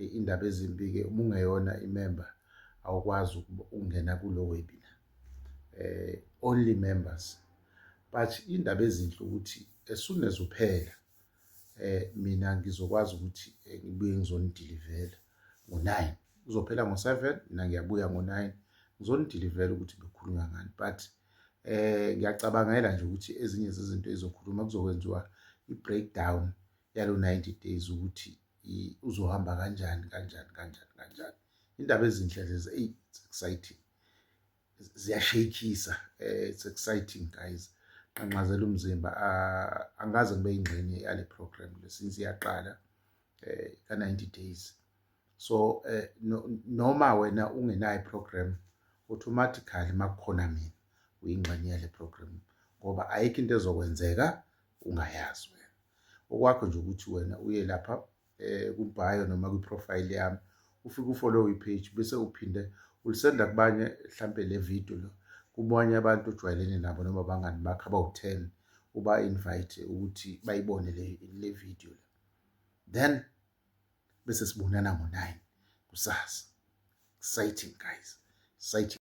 Eyi indaba ezimbi-ke uma ungeyona imemba awukwazi ukungena kulo webinar eh only members but indaba ezinhle ukuthi as soon as uphela eh mina ngizokwazi ukuthi eh, ngibuye ngizonidilivela ngo-9 kuzophela ngo-7 mina ngiyabuya ngo-9 ngizonidilivela ukuthi bekhulunywa ngani but eh ngiyacabangela nje ukuthi ezinye zezinto ezizokhuluma kuzokwenziwa i-breakdown yalo 90 days ukuthi uzohamba kanjani kanjani kanjani kanjani indaba ezinhle lezi eyi exciting ziyashayikisa eh, it's exciting guys qanqazela umzimba ah, angaze ngibe ingxenye yale program le since iyaqala eh, ka 90 days so eh, noma wena ungenayo iprogram automatically makukhona mina uyingxenye yale program ngoba ayikho into ezokwenzeka ungayazi wena okwakho nje ukuthi wena uye lapha eh kubhayo noma kwi profile yami ufike ufollow i page bese uphinde ulisenda kubanye mhlambe le video lo kubanye abantu ojwayelene nabo noma bangani bakho abawu-10 uba invite ukuthi bayibone le le video le then bese sibonana ngo-9 kusasa exciting guys exciting